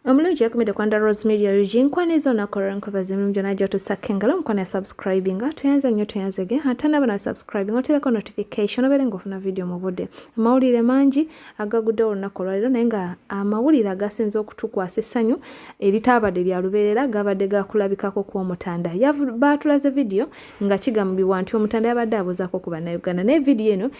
omulungi yakumidde kwanda rose media ug nkwana ezo nakola nkubaza emimu gyona gyotusakka engalo omukwana ya subscribinga tuyanze nnyo tuyanzege ate naba na subscribinga otereko notification obeere ngaofuna vidiyo mu budde amawulire mangi agagudde olunaku olwaliro naye nga amawulire agasinza okutukwasa essanyu eritaabadde lya lubeerera gabadde gakulabikako ku omutanda baatulaze vidiyo nga kigambibwa nti omutanda yabadde abuuzaako ku bannayuganda naye vidiyo eno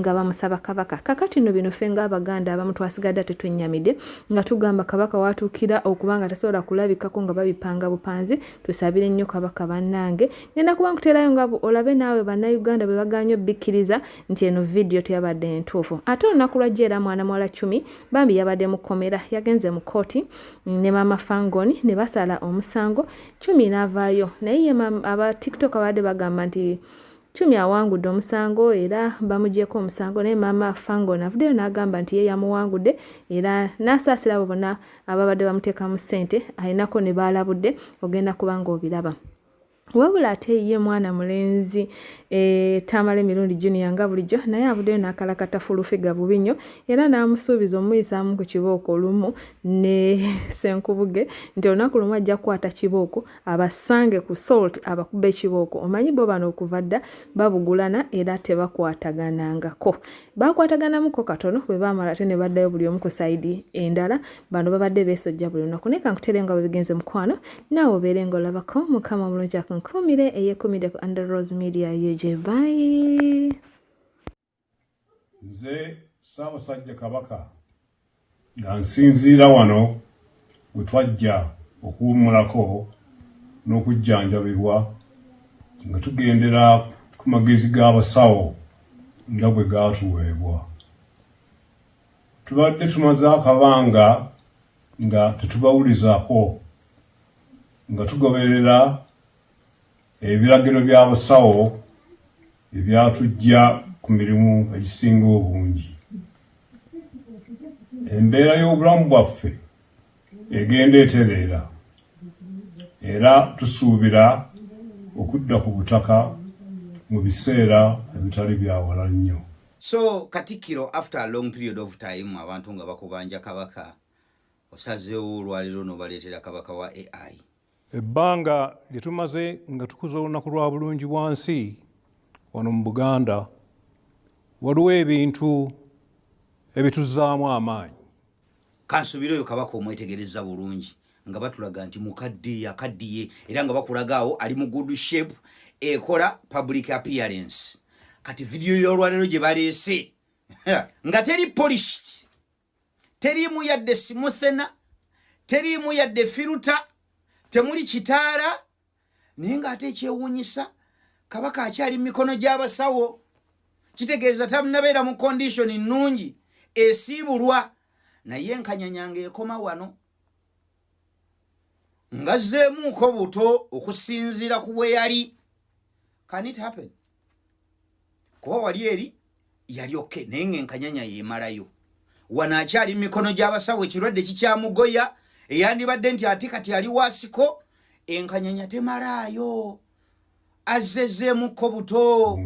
nga bamusaba kabaka kakati no bino fenga abaganda abamu twasigadde ate twenyamide nga tugamba kabaka watuukira okuba nga tasobola kulabikako nga babipanga bupanzi tusabire nnyo kabaka bannange ngenda kuba nkuteerayo nga olabe naawe bannayuganda bwe baganywa obbikkiriza nti eno vidiyo teyabadde entuufu ate olunaku lwa jeera mwana muwala cumi bambi yabadde mu kkomera yagenze mu kkooti ne maama fangoni ne basala omusango cumi n'avaayo naye ye aba tiktok abadde bagamba nti Chumi awangudde omusango era bamugyeko omusango naye maama Fangon avuddeyo n'agamba nti ye yamuwangudde era n'asaasira abo bonna ababadde bamuteekamu ssente alinako ne baalabudde ogenda kuba ng'obiraba. wabula ate ye mwana mulenzi e, tamale mirundi junior nga bulijjo naye avuddeyo n'akalakata fulufiga bubi nnyo era n'amusuubiza omuyisaamu ku kibooko olumu ne senkubuge nti olunaku lumu ajja kukwata kibooko abasange ku salt abakube ekibooko omanyi bo bano okuva dda babugulana era tebakwataganangako bakwataganamuko katono bwe baamala ate ne baddayo buli omu ku saidi endala bano babadde beesojja buli lunaku naye kankutere nga bwebigenze mukwano naawe obeere nga olabako mukama omulungi akunkuumire eyekumide ku under rose media ug bye nze ssaabasajja kabaka nga nsinziira wano we twajja okuwummulako n'okujjanjabibwa nga tugendera ku magezi g'abasawo nga bwe gaatuweebwa tubadde tumaze akabanga nga tetubawulizako nga tugoberera Ebiragiro bya busawo ebyatujja ku mirimu egisinga obungi. Embeera y'obulamu bwaffe egenda etereera era tusuubira okudda ku butaka mu biseera ebitali byawala nnyo. So Katikkiro after a long period of time abantu nga bakubanja Kabaka osazeewo olwaleero nobaleetera Kabaka wa AI. ebbanga lye tumaze nga tukuza olunaku lwa bulungi bwa nsi wano mu buganda waliwo ebintu ebituzaamu amaanyi kansubira oyo kabaka omwetegereza bulungi nga batulaga nti mukadde yakaddiye era nga bakulagaawo ali mu good shape ekola public appearance kati vidiyo y'olwaleero gye baleese nga teri polished teriimu yadde simuthena teriimu yadde firuta temuli kitaala naye ng'ate ekyewuunyisa kabaka akyali mu mikono gy'abasawo kitegeeza tanabeera mu kondishoni nnungi esiibulwa naye enkanyanya ng'ekoma wano ngazzeemuuko buto okusinziira ku bwe yali can it happen kuba wali eri yali oke naye nga enkanyanya yemalayo wano akyali mu mikono gy'abasawo ekirwadde kikyamugoya eyandibadde nti ate kati ali wasiko enkanyanya temalaayo azzezeemuko buto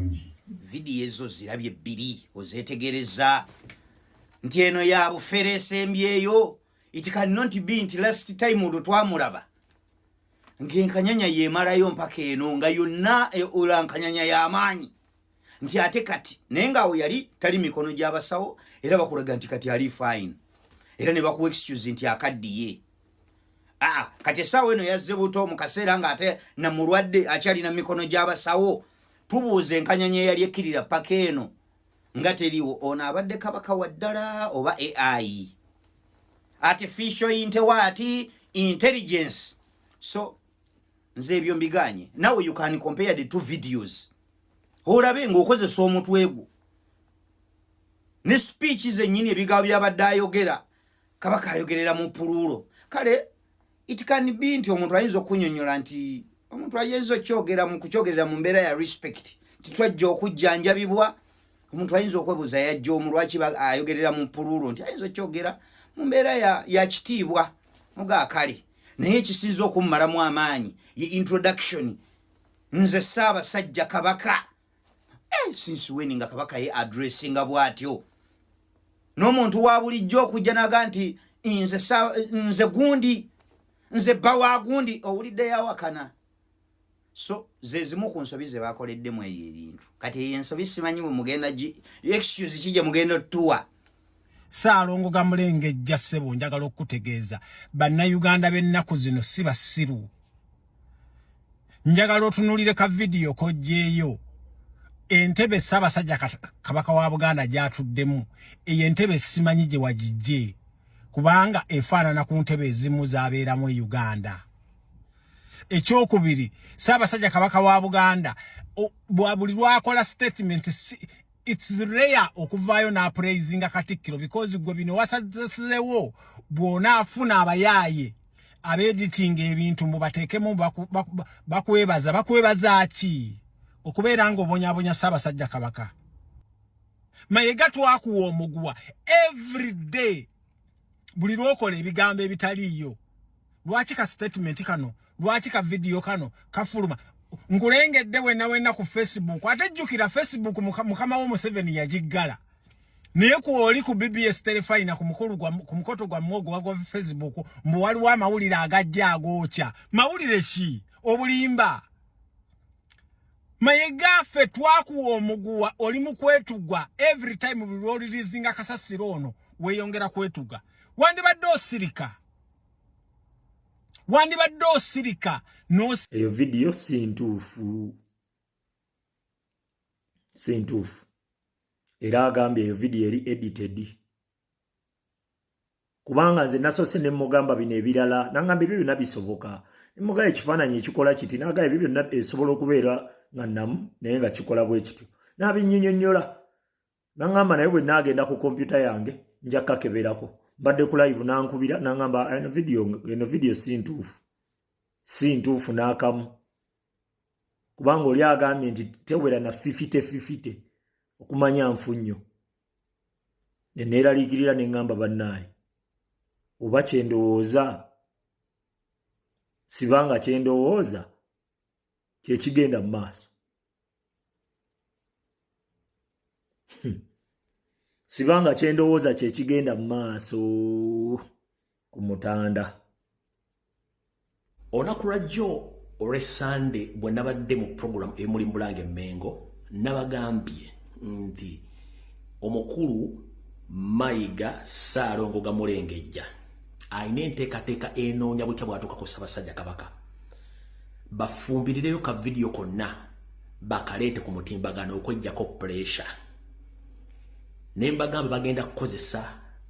vidiyo ezo zirabye bbiri ozeetegereza nti eno ya bufere esembyeyo it can not be nti last time olwo twamulaba ng'enkanyanya yemalayo mpaka eno nga yonna e, ola nkanyanya y'amaanyi nti ate kati naye ng'awo yali tali mikono gy'abasawo era bakulaga nti kati ali fine era ne bakuwa excuse nti akaddiye aa kati essaawa eno yazze buto mu kaseera ng'ate na mulwadde akyalina mikono gy'abasawo tubuuza enkanyanya eyali ekkirira paka eno nga teriwo ono abadde kabaka wa ddala oba ai artificial intewaati intelligence so nze ebyo mbiganye nawe you can compare the two videos olabe ngaokozesa omutwe gwo ne speech zenyini ebigambo byabadde ayogera kabaka ayogerera mu puluulo kale it can be nti omuntu ayinza okunyonyola nti omuntu ayinza okyogera mu kukyogerera mu mbeera ya respect titwajja okujjanjabibwa omuntu ayinza okwebuuza yajja omu lwaki ayogerera mu puluulu nti ayinza okyogera mu mbeera ya kitiibwa mugaakale naye ekisinza okummalamu amaanyi ye introduction nze ssaabasajja kabaka eh, since when nga kabaka ye addressinga bw'atyo n'omuntu wa bulijjo okujja naga nti nze nze gundi nze bba wa gundi owulidde yawakana so zezimu ku nsobi ze bakoleddemu eyo ebintu kati eyo ensobi simanyi bwe mugenda excuse ki gye mugenda otuwa Saalongo Gamulengejja ssebo njagala okukutegeeza bannayuganda b'ennaku zino si basiru. Njagala otunuulire ka vidiyo kojjeeyo entebe Ssaabasajja Kabaka wa Buganda gy'atuddemu eyo entebe simanyi gye wagijje kubanga efaanana ku ntebe ezimu z'abeeramu e Uganda. Ekyokubiri Ssaabasajja Kabaka wa Buganda buli lwakola sitatimenti it's rare okuvaayo n'apraisinga katikkiro because gwe bino wasazesewo bwona afuna abayaaye abeeditinga ebintu mbu bateekemu bakwebaza bakwebaza ki okubeera nga obonyabonya ssaabasajja kabaka mayega twakuwa omuguwa every day buli lwokola ebigambo ebitaliiyo lwaki ka statement kano lwaki ka vidiyo kano kafuluma nkulengedde wena wena ku facebook ate jjukira facebook mukama wo museveni yagiggala naye kwoli ku bbs telefayina ku mukoto gwammwe ogwo wagwa facebook mbu waliwo amawulire agajja agookya mawulire ki obulimba mayega ffe twakuwa omuguwa oli mu kwetugwa every time buli lwolirizinga kasasiro ono weyongera kwetuga wandibadde osirika wandibadde osirika eyo vidiyo si ntuufu si ntuufu era agambye eyo vidiyo eri edited kubanga nze nasoose ne mugamba bino ebirala nangamba ebyo byonna bisoboka mugaba ekifaananyi ekikola kiti nagaba ebyo byonna esobola okubeera nga namu naye nga kikola bwe kityo nabinyinyonyola nangamba naye bwe naagenda ku kompyuta yange nja kakeberako mbadde ku live nankubira nangamba eno vidiyo si ntuufu si ntuufu n'akamu kubanga oli agambye nti tewera na fifite fifite okumanya nfu nnyo ne neeraliikirira ne ŋŋamba bannaaye oba kye ndowooza siba nga kye ndowooza kye kigenda mu maaso hmm. siba nga kye ndowooza kye kigenda mu maaso ku mutanda olunaku lwajjo olwe sande bwe nabadde mu programu emuli mbulanga emmengo nabagambye nti omukulu mayiga saalongo gamulengejja alina enteekateeka enoonya butya bwatuuka ku ssabasajja kabaka bafumbirireyo ka vidiyo konna bakaleete ku mutimbagano okwejjako puresha ne mbagamba bagenda kukozesa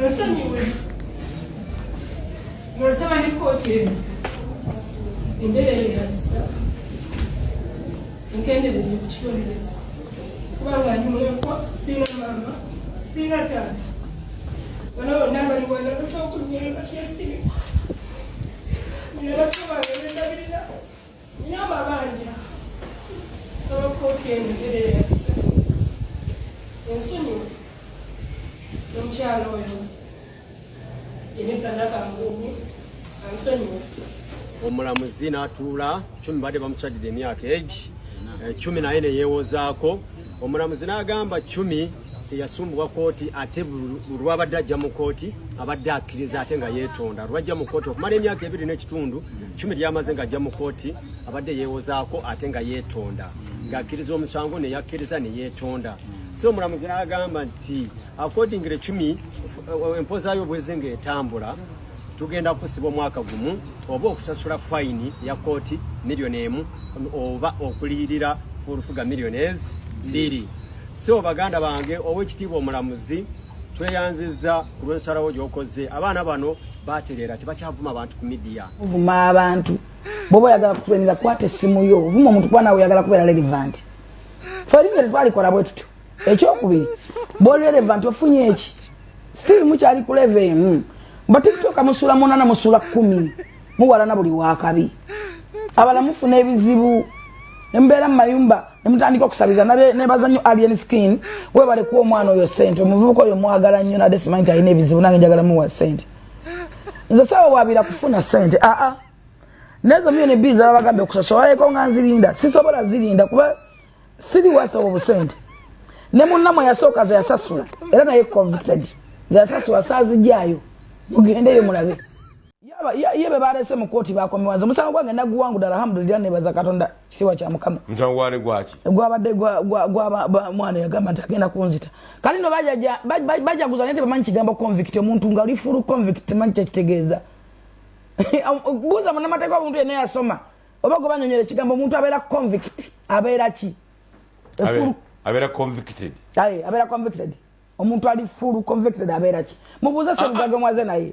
Nsonyiwe. Nasaba ne kkooti eno embeera eno erabisa enkenderezo ku kibonerezo kubanga ndi mulekwa sirina maama sirina taata bano bonna bali wano basobola okunyera batyesitiri nina bato bange bendabirira Nina amabanja nsaba kkooti enjogere eyakisa ensonyi n'omukyala oyo Jennifer Nakanguumi ansonyiwe. Omulamuzi n'atuula cumi badde bamukyadidde emyaka egi eh, cumi naye ne yeewozaako omulamuzi n'agamba cumi teyasumbuwa kooti ate lwabadde ajja mu kooti abadde akkiriza ate nga yeetonda lwajja mu kooti okumala emyaka ebiri n'ekitundu kumi lyamaze nga ajja mu kooti abadde yeewozaako ate nga yeetonda ng'akkiriza omusango ne yakkiriza ne yeetonda so omulamuzi n'agamba nti accordingly cumi eh, empoza yo bwezi ng'etambula tugenda kusiba omwaka gumu oba okusasula fayini ya kooti miliyoni emu oba okuliyirira fulufuga miliyoni ezi bbiri so baganda bange owekitiibwa omulamuzi tweyanziza ku lwensalawo gyokoze abaana bano batereera tebakyavuma abantu ku midiya ovuma abantu boba oyagala kutulenera kwata essimu yo ovuma omuntu kuba nawe oyagala kubeera relevant feringa tetwalikola bwe tutyo ekyokubiri boli relevant ofunye eki still mukyali ku level emu ba tiktok musula munana musula kumi muwalana buli wakabi abala mufuna ebizibu nembeera mumayumba nemutandika okusabiriza nebaza nyo alien skin webale kuwa omwana oyo sente omuvubuka oyo mwagala nyo nade simanyi nti alina ebizibu nange njagala muwa sente nze sawa wabira kufuna sente aa ah, ah. nezo myo nebizi ababagambye okusasolaeko nga nzirinda sisobola zirinda kuba siri wasa obusente ne munnamwe yasooka zeyasasula era naye convicted zeyasasula saazijaayo mugendeyo mulabe ye be balese mu kooti bakomewanze omusango gwange naguwanguda alhamdulillah nebaza katonda kisiwa kya mukama gwabadde mwana yagamba nti agenda kunzita kale no bajaguza naye tebamanyi kigambo convict omuntu nga oli fulu convict temanyi kyekitegeeza buuza munamateeka obuntu yena yasoma oba gwe banyonyera ekigambo omuntu abeera convict abeera ki abeera convicted abeera convicted omuntu ali full convicted abeera ki mubuuze ah, semugaga ah. mwaze naye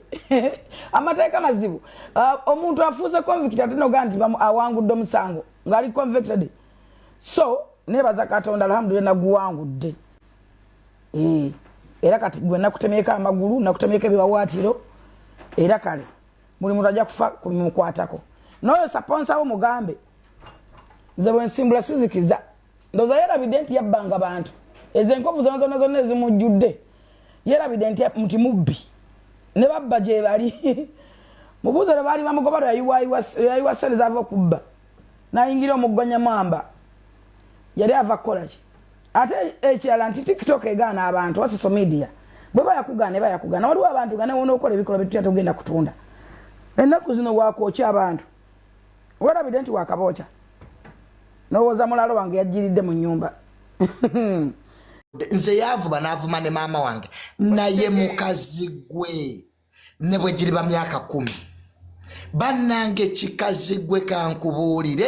amateeka mazibu ah, omuntu afuuse convict ate nogaa nti awangudde omusango ngaali convicted so nebaza katonda alhamdulila naguwangudde eh, era kati gwe nakutemyeko amagulu nakutemyeko ebiwawaatiro era kale buli muntu ajja kufa kumukwatako noyo saponsa wo mugambe nze bwensimbula sizikiza ndoza yerabidde nti yabbanga bantu ezo enkovu zona zona zonna ezimujjudde yerabidde nti muti mubbi ne babba gyebali mubuuzo lwe baali bamugoba lweyayiwa sente zava okubba nayingira omuggonyamwamba yali ava kukolaki ate ekirala nti tiktok egaana abantu wa social media bweba yakugaana eba yakugaana waliwo abantu nga newona okola ebikolwa byetutya togenda kutunda ennaku zino wakwokya abantu werabidde nti wakabookya nowooza mulaalo wange yajjiridde mu nyumba nze yavuba navuma ne maama wange naye mukazi gwe ne bwe giriba myaka kumi bannange kikazi gwe kankubuulire